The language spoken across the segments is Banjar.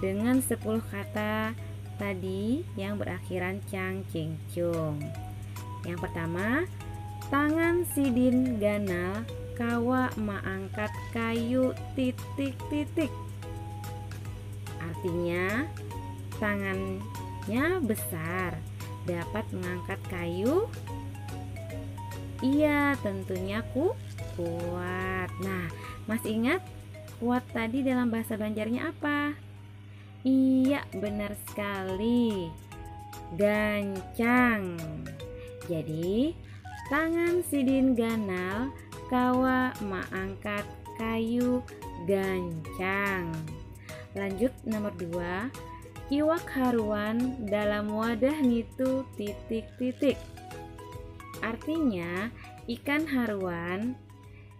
Dengan sepuluh kata tadi yang berakhiran cang cing cung. Yang pertama, tangan sidin ganal kawa maangkat kayu titik titik. Artinya, tangannya besar dapat mengangkat kayu. Iya, tentunya ku kuat. Nah, Mas ingat Kuat tadi dalam bahasa Banjarnya apa? Iya, benar sekali. Gancang. Jadi, tangan sidin ganal kawa mengangkat kayu gancang. Lanjut nomor dua, iwak haruan dalam wadah nitu titik-titik. Artinya, ikan haruan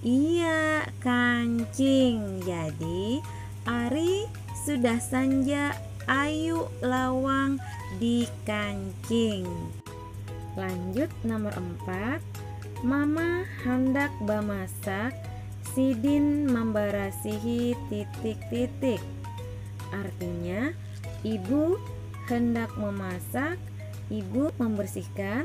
Iya, kancing. Jadi, ari sudah sanja ayu lawang di kancing. Lanjut nomor empat, Mama handak bamasak, sidin mambarasihi titik-titik. Artinya, ibu hendak memasak, ibu membersihkan,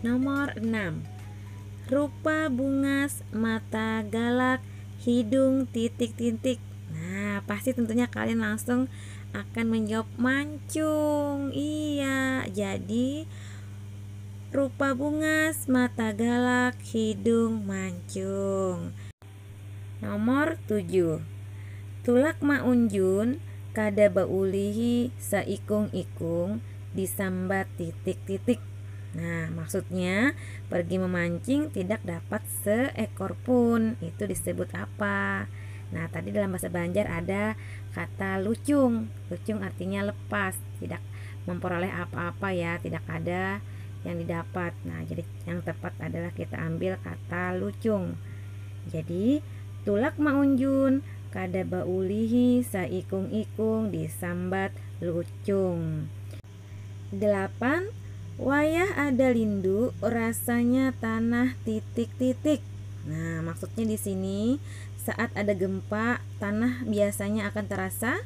Nomor enam, rupa bungas, mata galak, hidung titik-titik. Nah, pasti tentunya kalian langsung akan menjawab mancung. Iya, jadi rupa bungas, mata galak, hidung mancung. Nomor tujuh, tulak maunjun kada baulihi saikung-ikung disambat titik-titik. Nah, maksudnya pergi memancing tidak dapat seekor pun itu disebut apa? Nah, tadi dalam bahasa Banjar ada kata lucung. Lucung artinya lepas, tidak memperoleh apa-apa ya, tidak ada yang didapat. Nah, jadi Yang tepat adalah kita ambil kata lucung. Jadi, tulak maunjun kada baulihi saikung-ikung disambat lucung. Delapan, Wayah ada lindu rasanya tanah titik-titik. Nah, maksudnya di sini saat ada gempa tanah biasanya akan terasa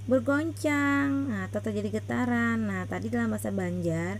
bergoncang atau terjadi getaran. Nah, tadi dalam bahasa Banjar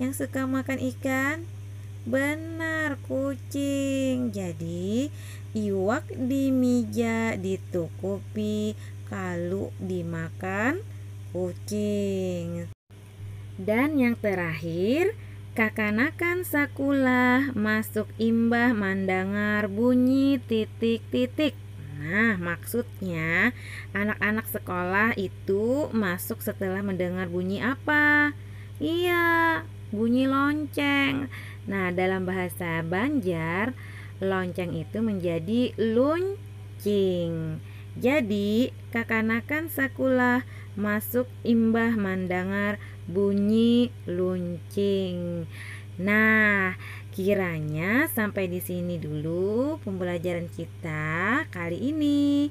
Yang suka makan ikan? Benar, kucing. Jadi, iwak di mija ditukupi kalu dimakan kucing. Dan yang terakhir, kakanakan sakulah masuk imbah mandangar bunyi titik-titik. Nah, maksudnya anak-anak sekolah itu masuk setelah mendengar bunyi apa? Iya, bunyi lonceng. Nah, dalam bahasa Banjar, lonceng itu menjadi luncing. Jadi, kakanakan sakulah masuk imbah mandangar bunyi luncing. Nah, kiranya sampai di sini dulu pembelajaran kita kali ini.